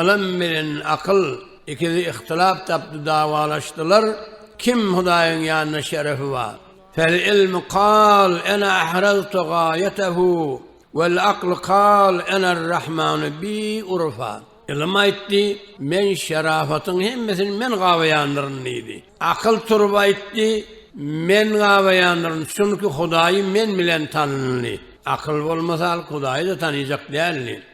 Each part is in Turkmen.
Ylym bilen akyl ikisi ihtilap tapdy, dawalaşdylar, Kim Hudaýyň ýanynda şerefi bar? Fel-ylmu kal ena ahraztu gaýatahu, wel-aklu kal enar-rahmanu bi urufa. Ylym aýtdy, Men şerafatyň hemmesini men gabaýandyryn diýdi. Akyl turup aýtdy, Men gabaýandyryn, çünki Hudaýy men bilen tanaldy. Akyl bolmasa, halk Hudaýy-da tanaýjak däldi.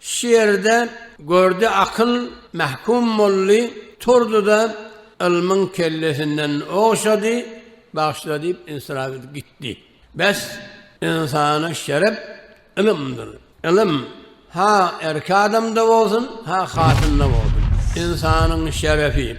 Şu ýerde gördi akyl mähkum boldy, turdy-da, ylmyň kellesinden ogşady, Bagşla diýip ysyrap edip gitdi. Bäs, ynsana şerep ylymdyr. Ylym, ha erki adamda bolsun, ha hatynda bolsun. Ynsanyň şerefi.